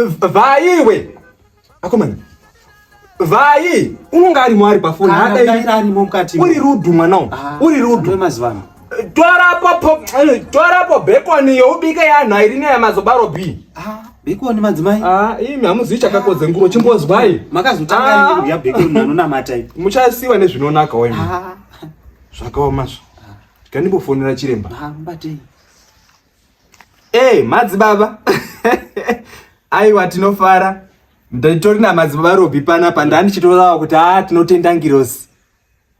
Vai iwe. Akomana. Vai unonga ari mwari pafoni hada iri ari mukati. Uri rudu mwana uyu. Ah, Uri rudu. Mazivana. Torapo eh, torapo bekoni youbika yanhu airi neya mazobaro B. Ah. Bekoni madzimai. Ah, imi hamuzivi chakakodze nguro chimbozwai. Makazotanga ah. nguro ya bekoni anonamata ipo. Muchasiwa nezvinonaka wewe. Ah. Zvakaoma zvo. Tikandimbofonera chiremba. Ah, mbatei. Hey, madzibaba aiwa tinofara nditori namadzibaba robi panapa ndandichitorawa kuti haa tinotenda ngirosi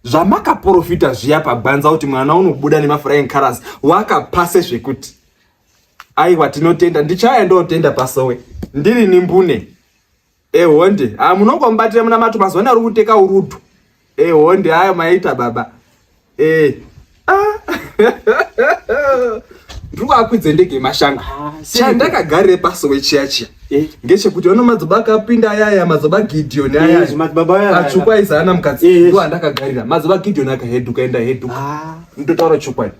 zvamakaprofita zviya pagwanza kuti mwana unobuda nemafurain caras wakapase zvekuti aiwa tinotenda ndichaya ndotenda pasowe ndiri nimbune ehonde ah munongo mubatira muna mato mazuva naro kuteka urudo ehonde eh, ayo maita baba eh ah ndiko akwidze ndege mashanga ah, chandakagare paso wechiya chiya eh. ngechekuti ono madzoba akapinda ayaya madzoba gideoni eh, ayaya atsvukwa aiza ana mukadzi eh, ndo andakagarira madzoba gideoni akaheduka enda heduka ah. ndotaura chokwadi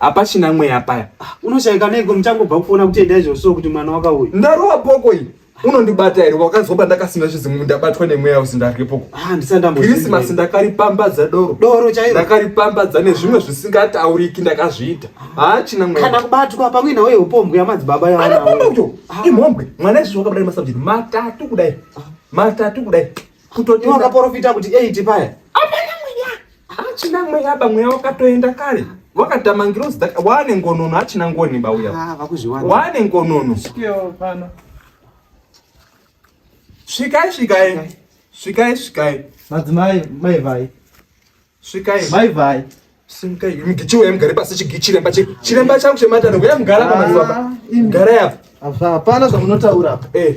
hapachina mweya paya ah, unoshaika neiko muchangobva kufona kutenda izvozvo kuti mwana wakauya ndarowa boko iyi unondibata here wakanzwa pandakasina zvizimu ndabatwa nemweya usi ndaripoko krisimasi ah, ndakaripambadza doro doro chairo ndakaripambadza nezvimwe zvisingatauriki ndakazviita haachina ah. mweya kana kubatwa pamwe nawo yeupombwe yamadzibaba yaanaoyo ah. imhombwe mwana izvi wakabudai masabjeti matatu kudai matatu kudai kutoti wakaporofita kuti 8 paya Hachina mweya ba mweya wakatoenda kare. Wakatama ngirozi daka wane ngonono hachina ngoni ba uya. Ah vakuzviwana. Wane ngonono. Sikeo pano. Svikai svikai. Svikai svikai. Madzimai mai vai. Svikai. Mai vai. Simkai mgichiwe emgare pasi chigichiremba chiremba changu chematano kuya mgara pa mazuva. Mgara ah, yapo. Hapana zvamunotaura apa. Eh.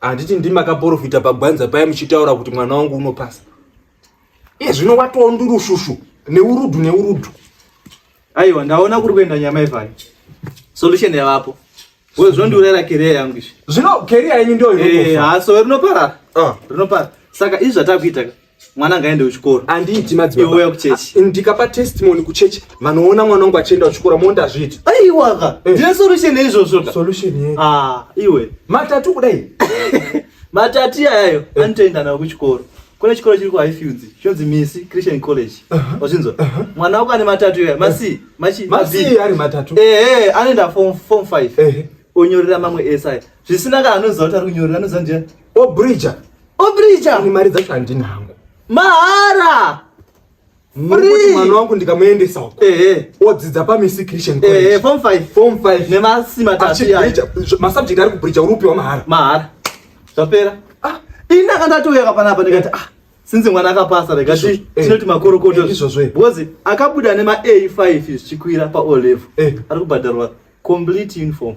handiti ndimi makaporofita pagwanza paye muchitaura kuti mwana wangu unopasa iye zvino watowa ndurushushu neurudhu neurudhu aiwa ndaona kuri kuenda nyama ivhayo solution yavapo wezvondiurera keriya yangu izvi zvino keriya yenyu ndoyo eh, haso rinoparara ah. rinopara saka izvi zvatakuita mwana ngaende kuchikoro andiiti madzibaba ah, ndikapa testimony kuchechi vanoona mwana wangu achienda kuchikoro mondi azviiti aiwaka eh. ndine solution yeizvozvo solution ye ah, iwe matatu kudai matatu iyayayo eh. anotoenda nawo kuchikoro kune chikoro chiri kuhighfields chinonzi misi christian college wazvinzwa mwana wako ane matatu iyoya masi machi masi ari matatu ehe eh, anoenda form form 5 onyorera mamwe esa zvisinaka anoziva kuti ari kunyorera anoziva ndiya obridger Obrija. Ini mari dzacho handina hangu. Mahara. Free. Mwana wangu ndikamuendesa uko. Eh eh. Odzidza pa Misi Christian eh, College. Eh eh form 5. Form 5. Ne masi matatu ya. Ma subject ari kubrija urupi wa mahara. Mahara. Zvapera. Ah, ina kana to yaka panapa ndikati ah. Since mwana akapasa rega ti eh, tinoti makorokoto eh, izvozvo. Because akabuda ne ma A5 zvichikwira pa O level. Eh. Ari kubhadharwa complete uniform.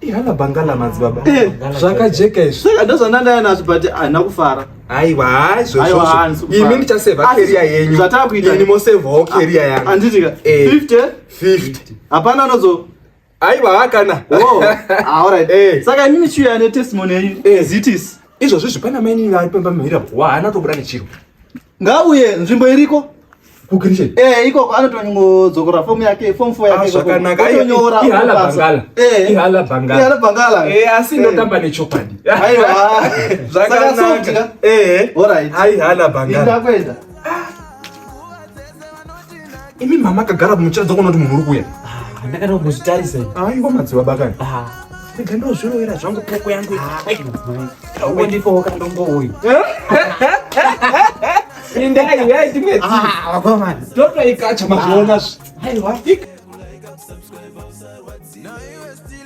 ihana bangala madzibaba Eh, Bangala zvakajeka izvi saka ndozvandandaya nazvo but haina kufara aiwa haizvo Aiwa, izvozvo hanzi kufara. imi ndichaseva Asi, keria yenyu zvatava kuita- ini mosevawo keria yangu anditika Eh. 50 50 hapana anozo aiwa hakana Oh, ah, alright. Eh. saka inini chiuya ane testimony yenyu Eh. zitis izvozvo zvipana maini vari pamba mhira haana tobuda nechiro ngauye nzvimbo iriko kukirishen eh ikoko anotonyodzokorora fomu yake fomu fo yake ah, zvakanaka inyora ihala bangala eh ihala bangala ihala bangala eh asi eh. ndotamba nechokwadi aiwa zvakanaka eh all right aihala bangala ndakwenda imi mama akagara muchiratidza kuona kuti munhu uri kuya ah, ndakada kuzvitarisa aiwa ah, madziwa bakani ah. rega ndozvirovera zvangu poko yangu ndipookandombouyu indai yai timwe toto ikacha mazvionazvo